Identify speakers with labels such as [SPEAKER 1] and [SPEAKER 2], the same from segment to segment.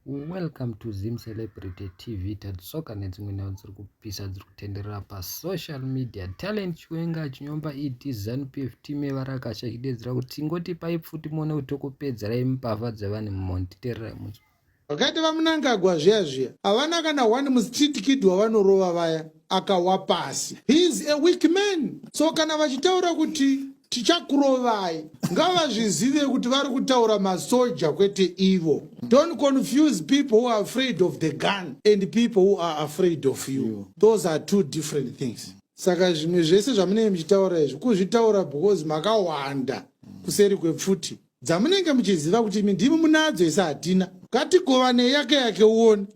[SPEAKER 1] Welcome to Zim Celebrity TV Tadzoka nedzimwe nhau dziri kupisa dziri kutenderera pasocial media. Talent Chiwenga achinyomba ED ZanuPF team yevarakasha ichidedzera kuti tingotipai pfuti muone kuti tokupedzerai mbavha dzevanhu mumhondi. Tererai musi. Vakaita vamunangagwa
[SPEAKER 2] zviya zviya havana kana one mustreet kid wavanorova vaya. akawa pasi he is a weak man so kana vachitaura kuti tichakurovai ngavazvizive kuti vari kutaura masoja kwete ivo don't confuse people who are afraid of the gun and people who are afraid of you those are two different things saka zvimwe zvese zvamunenge muchitaura izvi kuzvitaura because makawanda kuseri kwepfuti dzamunenge muchiziva kuti imi ndimi munadzo isi hatina ngatigovanei yake yake uone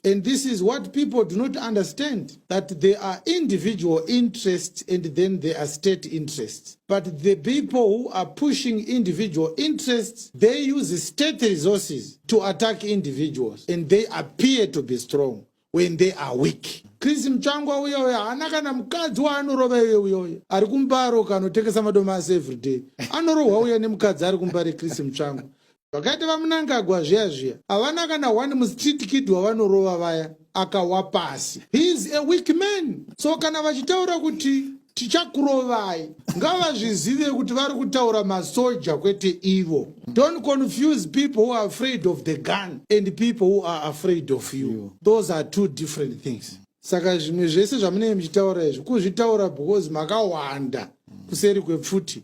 [SPEAKER 2] And this is what people do not understand, that there are individual interests and then there are state interests. But the people who are pushing individual interests, they use state resources to attack individuals and they appear to be strong when they are weak. Chris Mchangwa uyo uyo haana kana mukadzi waanorova iye uyo uyo ari kumbaro kanotengesa madomasi everyday anorohwa uya nemukadzi ari kumbare Chris Mchangwa Vakaita vamunangagwa zviya zviya havana kana one mustreet kid wavanorova vaya akawa pasi he is a weak man so kana vachitaura kuti tichakurovai ngavazvizive kuti vari kutaura masoja kwete ivo don't confuse people who are afraid of the gun and people who are afraid of you those are two different things saka zvimwe zvese zvamunenge muchitaura izvi kuzvitaura because makawanda kuseri kwepfuti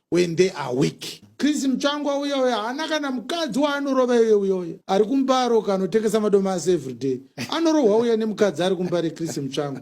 [SPEAKER 2] when they are weak chris mutsvangwa uya uya haana kana mukadzi waanorova iye uya uya ari kumbaro kanotengesa madomasi everyday anorohwa uya nemukadzi ari kumbare chris mutsvangwa